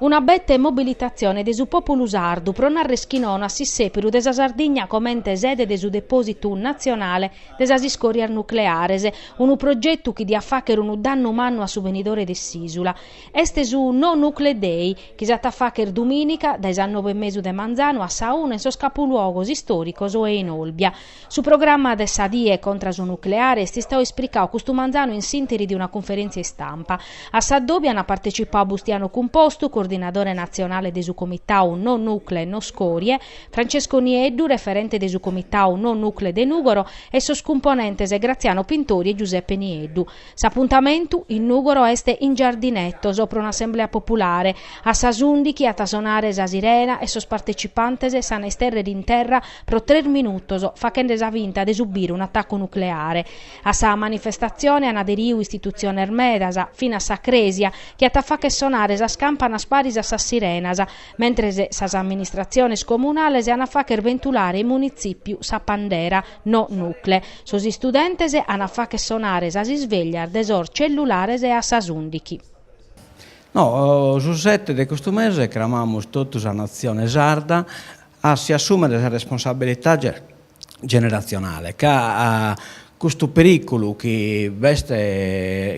Una bette mobilitatzione de su pòpulu sardu pro nàrrere chi nono a s'issèpiru de sa Sardigna comente sede de su depòsitu natzionale de sas iscòrias nucleares, unu progetu chi diat fàghere unu dannu mannu a su benidore de s'ìsula. Est su No Nucle Day, chi s'at a fàghere dumìnica, dae sas noe e mesu de manzanu a sa una in sos capuluogos istòricos o in Olbia. Su programma de sa die contra su nucleare est istadu ispricadu custu manzanu in s'interi de una cunferèntzia istampa. A s'addòbiu ant partecipadu Bustiano Cumpostu, coordinadore natzionale de su comitadu No Nucle, No Scorie, Francesco Nieddu, referente de su comitadu No Nucle de Nùgoro e sos cumponentes Graziano Pintori e Giuseppe Nieddu. S'apuntamentu, in Nùgoro, est in Giardinetos, pro un'assemblea populare. A sas ùndighi at a sonare sa sirena e sos partecipantes s'an a istèrrere in terra pro tres minutos, faghende sa finta de subire un'atacu nucleare. A sa manifestatzione an aderiu istitutziones medas, finas sa crèsia, chi at a fàghere sonare sas campanas paris a sas sirenas, mentres sas amministratziones comunales an a fàghere bentulare in Munitzìpiu sa pandera. No nucle. Sos istudentes an a fagher sonare sas isvèglias de sos cellulares e a sas ùndighi. No, su sete de custu mese cramamus totu sa natzione sarda a si assùmere sa responsabilidade generatzionale ca custu perìculu chi b'est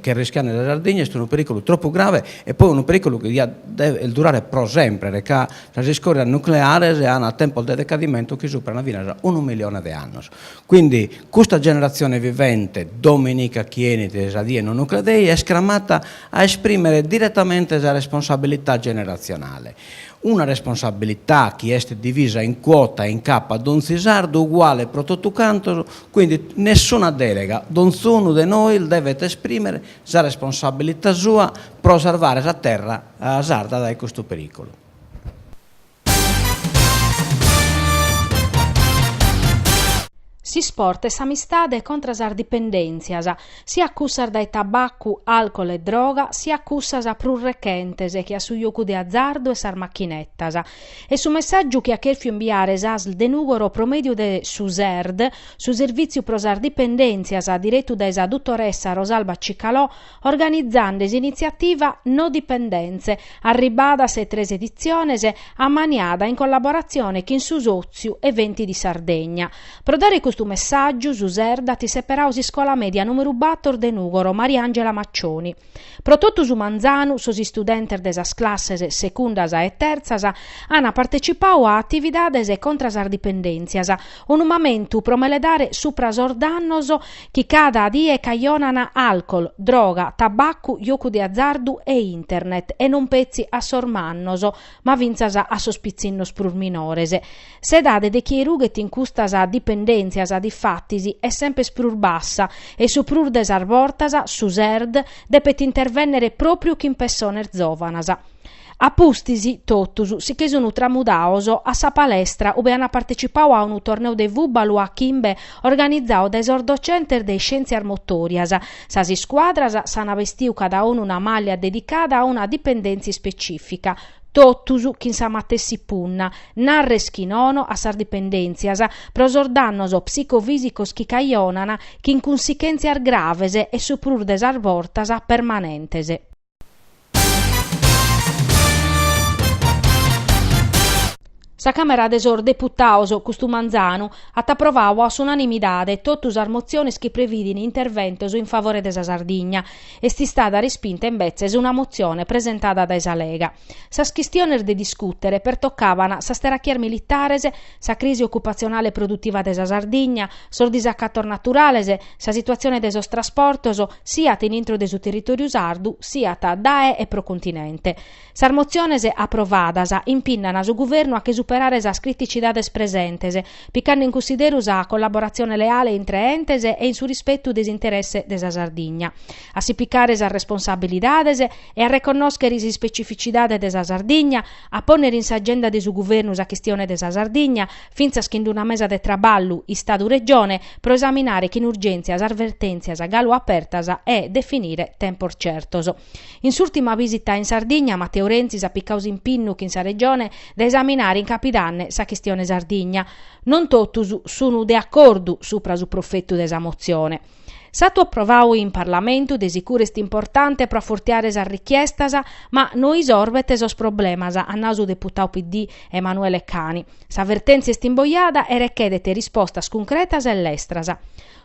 chi arrischiant sa Sardigna est unu perìculu tropu grave e poi unu perìculu chi diat durare pro sempre ca Sas iscòrias nucleares ant tempos de decadimentu chi superant finas unu milione de annos. Quindi custa generatzione vivente dominica chi 'enit sa die No Nucle Day est cramata a esprimere diretamente sa responsabilità generatzionale. Una responsabilità chi est divisa in cuota in capu a donzi sardu uguale pro totu cantos, quindi nessuna delega, donzunu de nois devet esprimere sa responsabilità sua pro sarvare sa terra sarda dae custu periculu. S'isport e s'amistade contra sas dipendèntzias, siat cussas dae tabacu, alcol e droga, siat cussas prus rechentes che a su jocu de azardu e sas machinetas. Est su messàgiu chi at chèrfiu imbiare s'Asl de Nùgoro pro mèdiu de su Serd, Su Servìtziu pro sas Dipendèntzias, diretu dae sa dutoressa Rosalba Cicalò, organizende s'initziativa No Dipendenze, arribada a sas tres editziones, ammaniada in collaboratzione chin su Sòtziu Eventi di Sardegna. Pro dare custu messàgiu, su Serd at seperadu s'iscola mèdia nùmeru bator de Nùgoro Mariàngela Maccioni, Pro totu su manzanu sos istudentes de sas classes segundas e terzas an partecipau a atividades contra sas dipendèntzias, unu mamentu pro meledare supra sos dannos chi cada die cajonan alcol, droga, tabacu, jocu de azardu e internet e non petzi a sos mannos, ma fintzas a sos pitzinnos prus minores. S'edade de chie rughet in custas dipendèntzias, difatis, est semper prus bassa e su prus de sas bortas su SERD depet intervènnere pròpriu chin pessones zòvanas. A pustis, totus si che sun tramudaos a sa palestra ue ant partecipau a unu torneu de fùbalu a chimbe organizau dae sos docentes de iscièntzias motòrias, sas iscuadras s'ant bestiu cadaunu una màllia dedicada a una dipendèntzia ispecìfica, totus chin sa matessi punna, narres chi nono a sas dipendèntzias pro sos dannos psicofìsicos chi cajonan chin cunsichèntzias graves e su prus de sas bortas permanentes. Sa Càmera de sos Deputados custu manzanu at aprovau a s'unanimidade totu sas motziones chi prevìdin interventos in favore de sa Sardigna. Est istada respinta imbetzes una motzione presentada dae sa Lega. Sas chistiones de discùtere pertocaban sas terachias militares, sa crisi ocupatzionale e produtiva de sa Sardigna, sos disacatos naturales, sa situatzione de sos trasportos, siat in intro de su territòriu sardu, siat dae e pro continente. Sas motziones aprovadas impinnan su Guvernu a che superare sas criticidades presentes, picande in cunsideru sa collaboratzione leale intre entes e in su rispetu de s'interesse de sa Sardigna, a si picare sas responsabilidades e a reconnòschere s'ispecificidade de sa Sardigna, a pònnere in s'agenda de su Guvernu sa chistione de sa Sardigna, fintzas chin d'una mesa de traballu Istadu-Regione, pro esaminare chin urgèntzia sas vertèntzias galu apertas e definire tempos certos. In s'ùrtima visita in Sardigna, Matteo Renzi s'at picau s'impinnu chin sa Regione de esaminare in capidanne sa chistione Sardigna. Non totus sunu de acordu supra su profetu de sa motzione. S'atu aprovau in Parlamentu de sicuru est importante pro afurtiare sas richiestas ma no isorbet sos problemas, at nau su deputau PD Emanuele Cani. Sa vertèntzia est imbojada e rechedet rispostas cuncretas e lestras.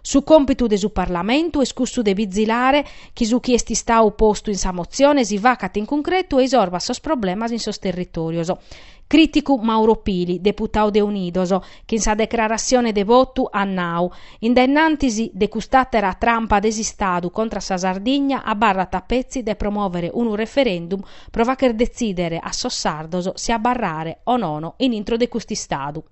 Su còmpitu de su Parlamentu est cussu de bizilare chi su chi est istau postu in sa motzione si facat in cuncretu e isorbat sos problemas in sos territòrios. Crìticu Mauro Pili, deputau de Unidos, chi in sa declaratzione de votu at nau, In dennantis de cust'àtera trampa de s'Istadu contra sa Sardigna abarrat a petzi de promòvere unu referendum pro fàcher detzìdere a sos sardos si abarrare o nono in intro de cust'Istadu.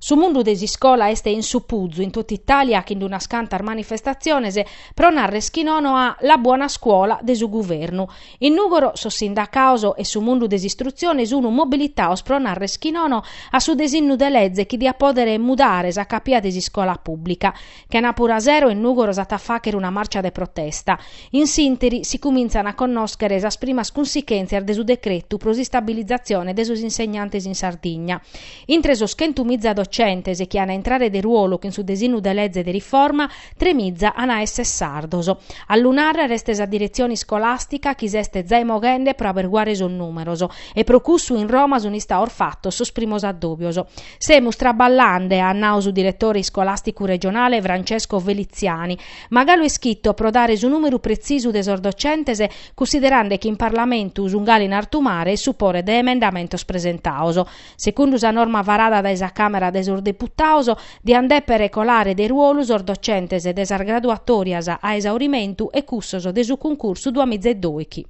Su mundu de s'iscola est in supuzu in totu Itàlia chin d'unas cantas manifestatziones pro narrer chi nono a La buona scuola de su guvernu. In Nùgoro sos sindacados e su mundu de s'istrutzione sunu mobilitados pro narrer chi nono a su desinnu de leze chi diat pòdere mudare sa capia de s'iscola pùblica. Chenapura sero in Nùgoro s'at a fàghere una màrcia de protesta. In s'ìnteri si cumintzan a connòschere sas primas cunsichèntzias de su decretu pro s'istabilizatzione de sos insegnantes in Sardigna. Intre sos chentu miza docentes chi an a intrare de ruolu chin su desinnu de leze de riforma, tre miza an a èssere sardos. A lu nàrrere est sa diretzione iscolàstica chi s'est zai moghende pro aberguare sos nùmeros e pro cussu in Roma sunt istados fatos sos primos addòbios. Semus traballande, at nau su diretore iscolàsticu regionale Francesco Feliziani, ma galu est chito pro dare su nùmeru pretzisu de sos docentes, cussiderande chi in Parlamentu sun galu in artu mare e su pore de emendamentos presentados. Segundu sa norma farada dae sa Càmera de sos Deputados, diant dèpere colare de ruolu sos docentes de sas graduatòrias a esaurimentu e cussos de su cuncursu duamiza e dóichi,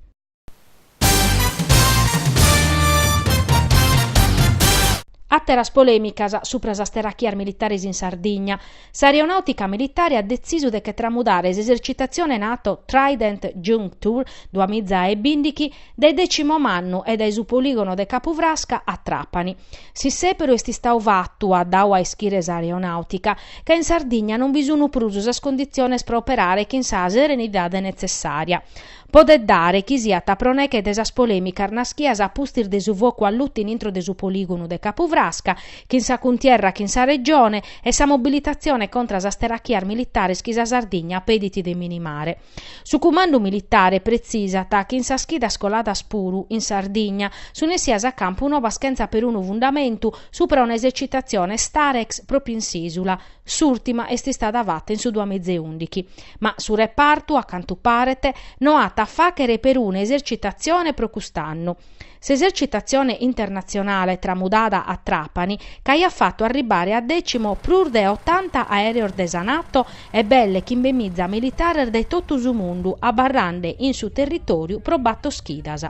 Àteras polèmicas subra sas teràchias militares in Sardigna. S'aeronàutica militare at detzisu de che tramudare s'esercitatzione nato Trident Juncture duamiza e bìndichi dae Decimomannu e dae su polìgonu de Capu Frasca a Trapani. S'issèberu est istadu fatu, at dadu a ischire s'aeronàutica, ca in Sardigna non bi sunt prus sas conditziones pro operare chin sa serenidade netzessària. Podet dare chi siat pro neghe de sas polèmicas naschias a pustis de su focu allutu in intro de su polìgonu de Capu Frasca, chin sa cuntierra chin sa Regione, e sa mobilitatzione contra sas terachias militares chi sa Sardigna pedit de minimare. Su cumandu militare pretzisat chi in sas chidas coladas puru in Sardigna sun essias a campu nobas chentza perunu fundamentu, supra un'esercitatzione Starex pròpiu in s'ìsula, S'ùrtima est istada fata in su duamiza e ùndighi, ma su repartu, a cantu paret, no at a fàghere peruna esercitatzione pro cust'annu. S'esercitatzione internatzionale tramudada a Trapani ch'aiat fatu arribbare a Decimo prus de otanta aèreos de sa Nato e belle chimbemiza militares dae totu su mundu abarrande in su territòriu pro bator chidas.